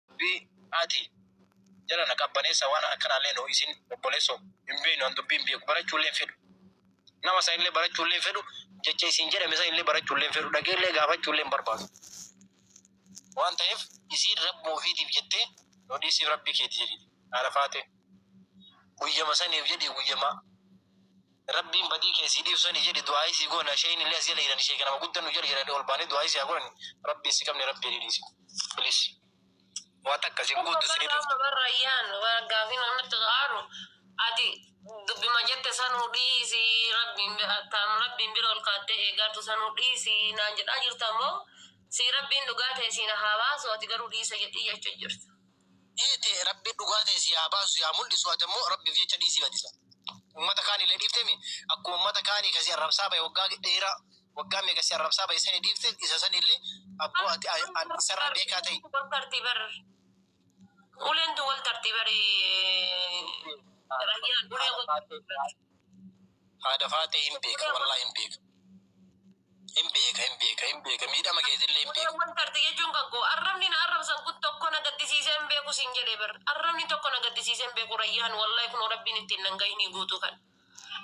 Dubbii ati jala na qabbaneessa waan akkanaallee noo isin obboleessoo hin beeknu an dubbii hin beeku barachuullee hin fedhu nama san illee barachuullee hin fedhu jecha isin jedhame san illee barachuullee hin fedhu dhageellee gaafachuullee hin barbaadu waan ta'eef isiin rabbuma ofiitiif jettee noo dhiisiif rabbii keeti jedhi haadha faatee guyyama saniif jedhi guyyama Rabbiin badii kee sii dhiisu sani jedhi du'aa'ii sii goona sheeyni illee as jala jirani sheeka nama gudda nu jala jirani ol baane du'aa'ii sii haa godhani rabbiin si qabne rabbi jedhi dhiisi please waa takka isin guuttu isin hin dhuftu. Babar Rayyaan gaafin anatti aaru ati dubbima jette sanuu dhiisi rabbiin taam rabbiin bira ol kaattee eegaartu sanuu dhiisi naan jedhaa jirta moo sii rabbiin dhugaa tee siin haa baasu ati garuu dhiisa jedhii jechu jirta. Ee tee rabbi dhugaa tee sii haa baasu sii haa muldhisu ati ammo rabbif jecha dhiisi badisa ummata kaanile dhiiftemi akkuma ummata kaani ka si arrabsaa bahe waggaa dheera waggaa meeqa si arrabsaa bahe sani dhiifte isa sanile abbo ati isarra beekaa ta'i. Uleen tun wal tartii bar Uleen tun wal tartii bari Rayyaan Ulee wal tartii bar. Haadha faatee hin beeka wallahi hin beeka. Hin beeka hin beeka hin beeka miidhama keetillee hin beeka. Wanta arti jechuun kan koo arrabni na arrabsan kun tokko na gaddisiisee hin beeku siin jedhee bar arrabni tokko na gaddisiisee hin beeku rayyaan wallahi kunoo rabbiin ittiin nan gahinii guutuu kan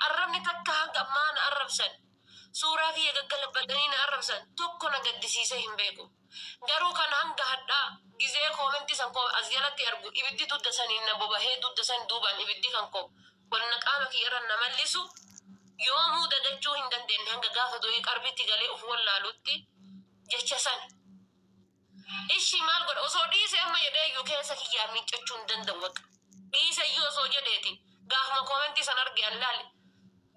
arrabni takka hanga ammaa na arrabsan suuraa kiyya gaggalabbatanii na arrabsan tokko na gaddisiisee hin beeku. Garuu kan hanga hadhaa gizee comment san koo as jalatti argu ibiddi dudda saniin na bobahee dudda san duubaan ibiddi kan koo wanna qaama kiyyarra na mallisu yoomuu dadachuu hin dandeenne hanga gaafa du'ee qarbritti galee uf wollaalutti jecha san ishi maal godha osoo dhiise amma jedheeyyu keessa kiyyaa miiccachuu hin danda'u bakka dhiiseyyuu osoo jedheeti gaafuma comment san arge an laale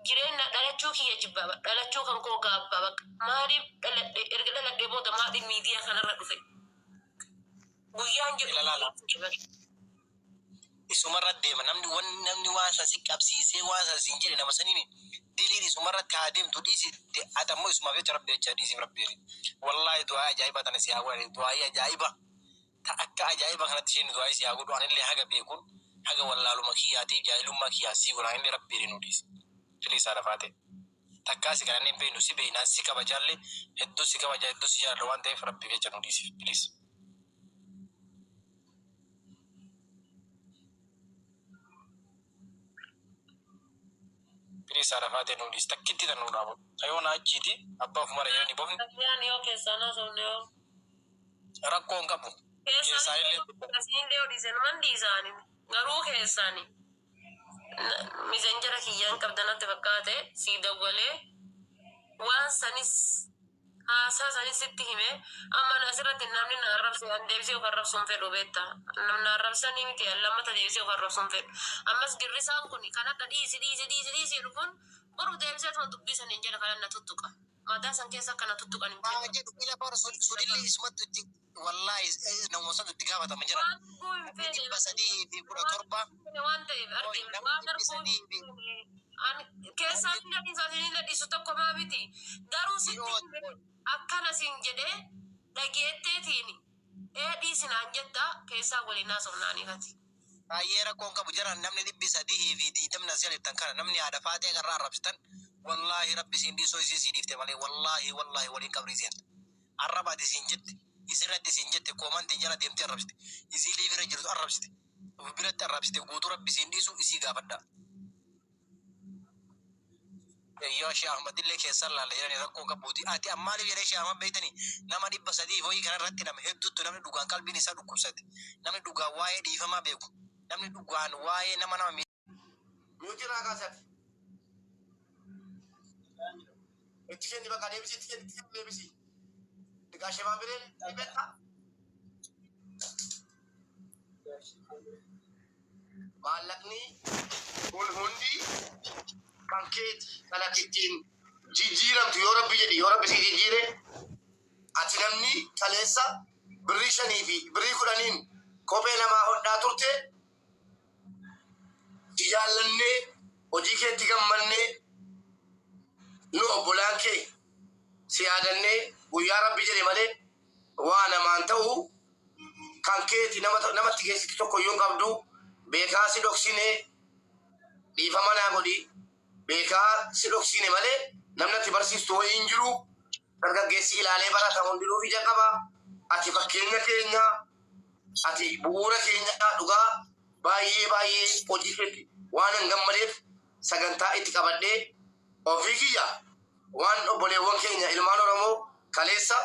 Jireenna dhalachuu kiyya jibba bar dhalachuu kan koo gaabba baq maaliif dhaladhe erga dhaladhe booda maaliif miidiya kanarra dhufe guyyaan jedhu Ilalaala. hin jira bar. isumarra deema namni wan namni waan san si qabsiisee waan san siin jedhe nama saniin diliin isumarratti haa deemtu dhiisi de ati ammoo isumaaf jecha rabbi jecha dhiisiif rabbi jedhi wallaahi du'aa'ii ajaa'ibaa tana si haa godhani du'aa'ii ajaa'iba Ta akka ajaa'iba kanatti isheen du'aa'ii si haa godhu anillee haga beekuun haga wallaaluma kiyyaatiif jaahilummaa kiyyaan sii godha anillee rabbiilee nuu dhiisi please haadha faatee takkaa si kadhannee hin beeknu si beeknaan si kabajaallee hedduu si kabajaa hedduu si jaaladha waan ta'eef rabbiif jecha nuu dhiisi please. Please haadha faatee nuu dhiisi takkitti tan nuu dhaabadhu ta yoona achiiti abbaa ofumara yoo ni bofne. Takkiyaan yoo keessaan haasofne hoo. Rakkoo hin qabu. Keessaanillee tokko dha. Isinillee yoo dhiise numan dhiisa ani. Garuu keessaani misenjera kiyya hin qabda natti fakkaate sii dawwalee waan sanis haasaa sanis sitti hime amma ani asirratti namni na arrabse an deebisee of arrabsuu hin fedhu beetta nam na arrabsanii miti an lammata deebisee of arrabsuu hin fedhu ammas girrisaan kun kan hadha dhiisi dhiisi dhiisi dhiisi jedhu kun boruf deebiseetuma dubbii saniin jala kanan na tuttuqa Mataa san keessa akka na tuttuqan hin fedhu. Haa jedhu ila bara sudillee isumattu itti wallaahi namuma santu itti gaafatama jira. Waan arguu hin feene. Ani 317. Waan ta'eef arge miti waan arguu hin feene. Ani keessaa hin gadhiisu asiin hin gadhiisu tokkomaa miti. Garuu sitti hime akkana siin jedhee dhageetteetiini. Ee dhiisi naan jetta keessaa waliin haasofna aniif ati. Baay'ee rakkoon qabu jaran namni dhibbi sadihii fi digdamni asii alettan kana namni haadha faaxee garra arrabsitan wallaahi rabbi siin dhiisuu isiin sii dhiifte malee wallaahi wallaahi waliin qabrii seenta arraba ati siin jette isirratti siin jette koomantiin jala deemtee arrabsite isii liivirra jirtu arrabsite of biratti arrabsite guutuu rabbi siin dhiisuu isii gaafadhaa Eyyoo Shee Ahmadillee keessan laalla jedhani rakkoo qabuuti. Ati an maaliif jedhee Shee Ahmad beektani nama dhibba sadii fi wayii kana irratti nama hedduuttu namni dhugaan qalbiin isaa dhukkubsate namni dhugaan waa'ee dhiifamaa beeku namni dhugaan waa'ee nama nama Yoo jiraa kaa sati. Itti kenni bakka deebisi itti kenni itti kenni deebisi. Egaa shebaa biree ni beektaa? Maallaqni kun hundi kan keeti. Kan ati ittiin jijjiiramtu yoo rabbi jedhe yoo rabbi sii jijjiire ati namni kaleessa birrii shanii fi birrii kudhaniin kophee namaa hodhaa turte si jaallannee hojii keetti gammannee nu obbolaan kee si yaadannee guyyaa rabbi jedhe malee Waa namaan ta'u kan keeti namatti geessitu tokkoyyuu hin qabdu. Beekaa si dhoksine dhiifama naa godhi. Beekaa si dhoksine malee namni ati barsiistu wayii hin jiru. Dargaggeessi ilaalee barata hundinuu ija qaba. Ati fakkeenya keenya, ati bu'uura keenya dhugaa baay'ee baay'ee hojii keetti waanan gammadeef sagantaa itti qabadhee ofii kiyyaa waan obboleewwan keenya ilmaan Oromoo kaleessa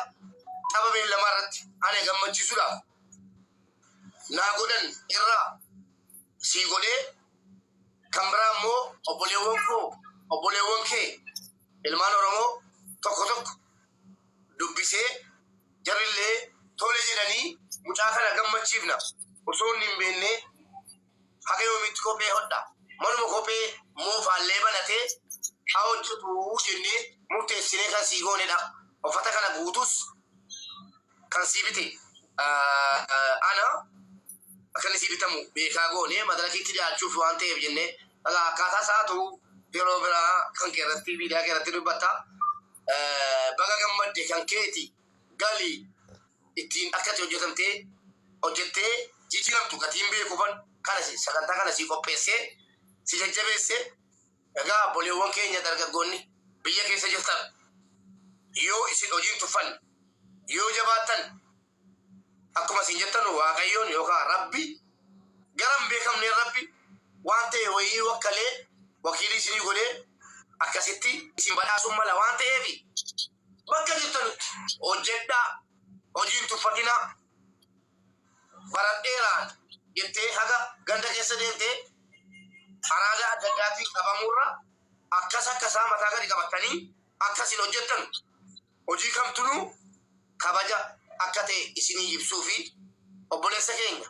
tapha beellamaa irratti ana gammachiisuudhaaf naa godhan irraa sii godhee kan biraa immoo obboleewwan koo obboleewwan kee ilmaan Oromoo tokko tokko dubbisee jarri illee tole jedhanii mucaa kana gammachiifna osoo inni hin beennee haga yoomiitti kophee hodha? Manuma kophee moofaallee banatee haa hojjatu jennee murteessinee kan sii goonedha. Uffata kana guutuus kan sii bite ana, akka inni sii bitamu beekaa goonee madarakiitti dhiyaachuuf waan ta'eef jennee egaa akkaataa isaa atu yeroo biraa kan kee irratti miidiyaa kee irratti dubbatta. Baga gammadde kan keeti gali. ittiin akkati hojjetamtee hojjettee jijiramtu gatiin beekuufan kana si sagantaa kana sii qopheessee si jajjabeesse egaa abboleewwan keenya dargaggoonni biyya keessa jirtan yoo isin hojiin tuffanne yoo jabaattan akkuma isin jettanu waaqayyoon yookaan rabbi garan beekamneen rabbi waan ta'e wayii wakkalee wakiilii isinii godhee akkasitti isin badhaasuun mala waan ta'eefi Bakka jirtanutti hojjedhaa, hojii hin tuffatinaa. Baradheeraan jettee haga ganda keessa deemte araada adda addaatiin qabamuurra akkas akkasaa mataa gadi qabattanii akka isin hojjettanu hojii kamtunuu kabaja akka ta'e isinii ibsuufi. Obboleessa keenya.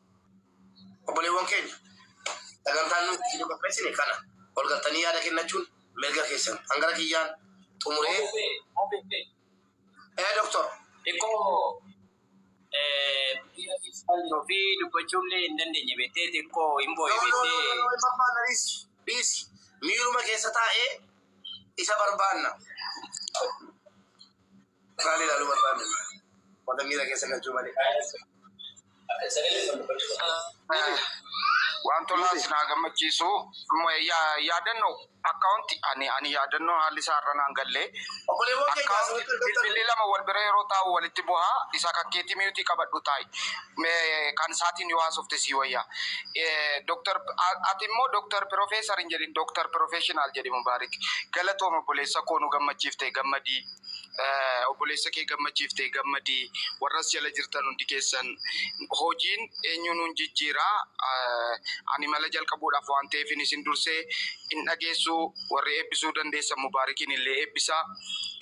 Obboleewwan keenya, sagantaan nuyi isinii qopheessine kana. Ol galtanii yaada kennachuun mirga keessan. An gara kiyyaan xumuree. Obse. Ee Doktor. Xiqqoo miira keessaan jiru fi dubbachuu illee hin dandeenye beektee xiqqoo hin booye No no no beektee. no no hin barbaanna dhiisi dhiisi miiruma keessa taa'ee isa barbaanna. Maal ilaaluu barbaaddu? Wanta miira keessa galchuu malee. Waan tolaa isin haa gammachiisu. Yaadannoo akkaawuntii ani ani yaadannoo haalli isaa irra naan galle. Akkaawuntii bilbilli lama wal bira yeroo taa'u walitti bu'a. Isa kan keetii miyuutii qabadhu taa'i. Kan isaatiin yoo haasofte sii wayya. Doktar ati immoo doktar pirofeesar hin jedhin doktar pirofeeshinaal jedhi Mubaarik. Galatoom obboleessa koo nu gammachiifte gammadii. Obboleessa kee gammachiiftee gammadi. Warra as jala jirtan hundi keessan hojiin eenyuu nuun jijjiira. Ani mala jalqabuudhaaf waan ta'eefin isin durse hin dhageessu. Warri eebbisuu dandeessan mubaarikiin illee eebbisaa.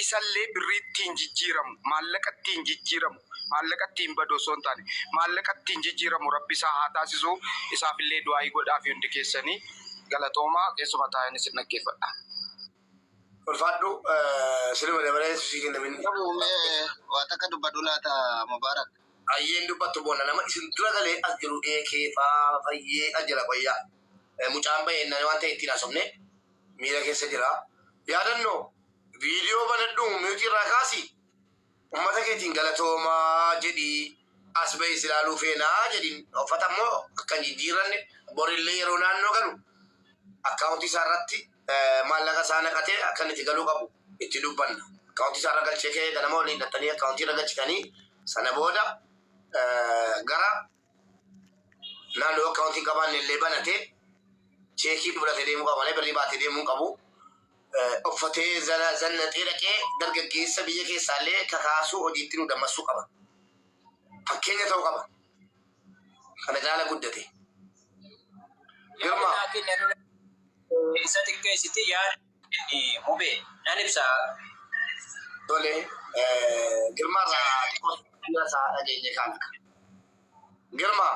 Isallee birrii ittiin jijjiiramu, maallaqa ittiin jijjiiramu, maallaqa ittiin badu osoo hin taane maallaqa ittiin jijjiiramu Rabbi isaa haa taasisu. Isaaf illee du'aa'ii godhaafi hundi keessanii. Galatoomaa keessuma taa'een isin dhaggeeffadha. Ulfaadhu siluma dabalee sii kennamin. Qabu mee waa takka dubbadhu laata Mubaarak. Ayyeen dubbattu boona nama isin dura galee as jiru ee kee faa fayyee as jira qoyya mucaan bahee nani waan ta'e ittiin haasofne miira keessa jira yaadanno viidiyoo banadhu mute irraa kaasi ummata keetiin galatooma jedhi as bahee si ilaaluu feena jedhin uffata immoo akka hin jijjiirranne borillee yeroo naannoo galu akkaawuntii isaa irratti maallaqa isaa naqatee akka inni itti galuu qabu itti dubbanna. Akkaawuntii isaa irra galchee ka'ee ganama waliin dhattanii akkaawuntii irra galchitanii sana booda gara naannoo akkaawuntii qabaanne illee banatee cheekii fudhatee deemuu qaba malee birrii baatee deemuu hin qabu. Uffatee zannaxee dhaqee dargaggeessa biyya keessaallee kakaasuu hojiitti nu dammassuu qaba. Fakkeenya ta'uu qaba. kana caala guddate. Girmaa. Yaadni ati nurraa isa xiqqeessiti yaada kenni mube nan ibsa. Tole Girmaa irraa xiqqoo yaada isaa dhageenye kaan. Girmaa.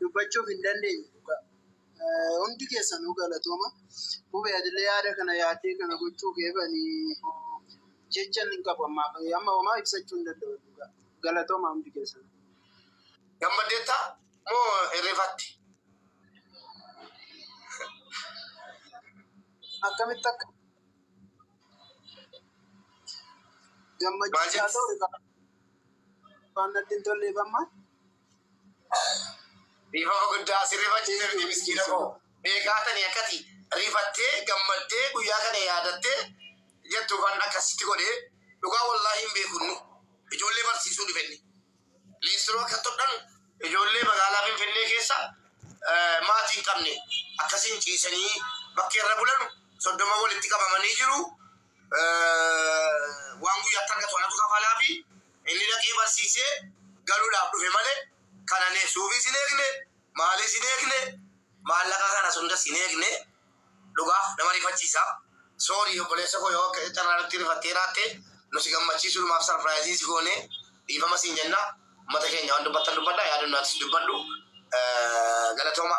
dubbachuuf hin dandeenye dhugaa. Hundi keessanuu galatooma. Mube atillee yaada kana yaaddee kana gochuu keef ani jechan hin qabu ammaaf. Amma homaa ibsachuu hin danda'u dhugaa. Galatooma hundi keessanuu. Gammaddeetta moo hirrifatte? Akkamitti akka gammachiisaa ta'u waan natti hin tolleef amma. Dhiifama guddaa si rifachiise miti miskiina koo. Beekaa tani akkati rifattee gammaddee guyyaa kana yaadattee jettu kan akkasitti godhee dhugaa wallaahi hin beekunnu ijoollee barsiisuu dhufenni. Liistiroo akka todhan ijoollee magaalaa Finfinnee keessa maatii hin qabne akkasiin ciisanii bakkeerra bulanu soddoma walitti qabamanii jiru. waan guyyaa itti argatu anatu kafalaafi inni dhaqee barsiisee galuudhaaf dhufe malee kana ne suufis hin eegne maalis hin eegne maallaqa kanas hundas hin eegne dhugaa nama rifachiisa soorii obboleessa koo yoo akka carraa nutti rifattee raatte nu si gammachiisuudhumaaf sarpiraayizii si goone dhiifama siin jenna mata keenya waan dubbattan dubbadha yaadannaatis dubbadhu galatooma.